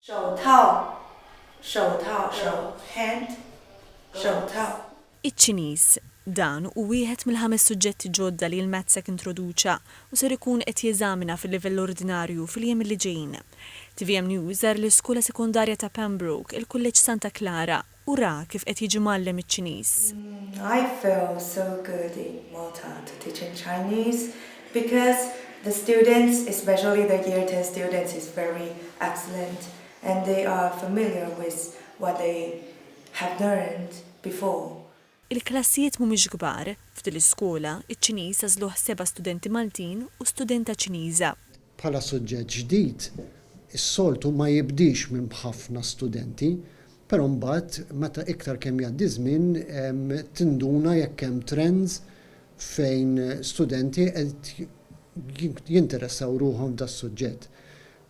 Show tao, show tao, show of hand, show tao. Iċ-Ċiniż, Dan hu wieħed mill-ħames suġġetti ġodda li l-MATSEC introduċa u ser ikun qed jeżamina fil-livell ordinarju fil-jiem li ġejjin. Tvm News żar l-Iskola Sekondarja ta' Pembroke, il-Kulleġġ Santa Clara, u ra kif qed jiġi mgħallem iċ-Ċiniż. I feel so good in Malta to teach in Chinese because the students, especially the year ten students is very excellent and they are familiar with what they have learned before. Il-klassijiet mhumiex kbar, f'din l-iskola, iċ-Ċiniż għażluh seba' studenti Maltin u studenta Ċiniża. Bħala suġġett ġdid, is-soltu ma jibdiex minn b'ħafna studenti, però mbagħad meta iktar kemm jgħaddi ż-żmien tinduna jekk hemm trends fejn studenti qed jinteressaw ruħhom f'das-suġġett.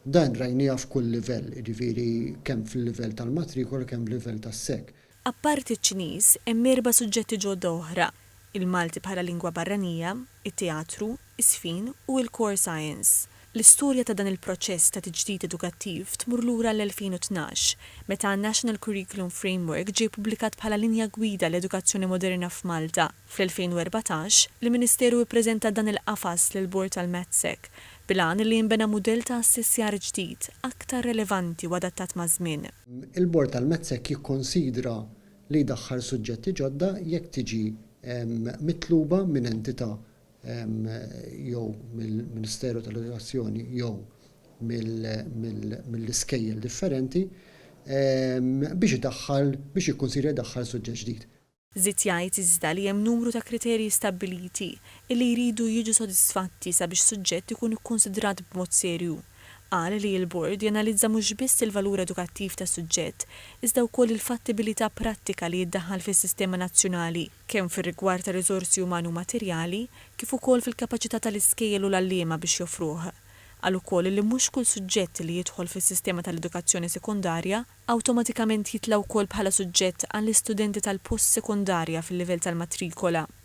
Dan rajnieh f'kull livell, jiġifieri kemm fil-livell tal-matrikola kemm fil-livell tas-sec. Apparti ċ-Ċiniż, hemm erba' suġġetti ġodda oħra, il-Malti bħala lingwa barranija, it-teatru, iż-żfin u il-Core Science. L-istorja ta' dan il-proċess ta' tiġdid edukattiv tmur lura għall-2012, meta n-National Curriculum Framework ġie ppubblikat bħala linja gwida għall-edukazzjoni moderna f'Malta. Fl-2014, il-Ministeru ippreżenta dan il-qafas lill-Bord tal-MATSEC, bil-għan li jinbena mudell ta' assessjar ġdid, aktar relevanti u adattat maż-żmien. Il-Bord tal-METSEC jikkonsidra li jdaħħal suġġetti ġodda jekk tiġi mitluba minn entità jew mill-Ministeru tal-Edukazzjoni jew mill-iskejjel differenti biex idaħħal, biex jikkunsidra jdaħħal suġġett ġdid. Żied jgħid iżda li hemm numru ta' kriterji stabbiliti illi jridu jiġu sodisfatti sabiex suġġett ikun ikkunsidrat b'mod serju. Qal li l-Bord janalizza mhux biss il-valur edukattiv ta' suġġett iżda wkoll il-fattibilità prattika li jiddaħħal fis-sistema nazzjonali, kemm fir-rigward ta' riżorsi umani u materjali, kif ukoll fil-kapaċità tal-iskejjel u l-għalliema biex joffruh. Qal ukoll li mhux kull suġġett li jidħol fis-sistema tal-edukazzjoni sekondarja, awtomatikament jitla' wkoll bħala suġġett għall-istudenti tal-post-sekondarja fil-livell tal-matrikola.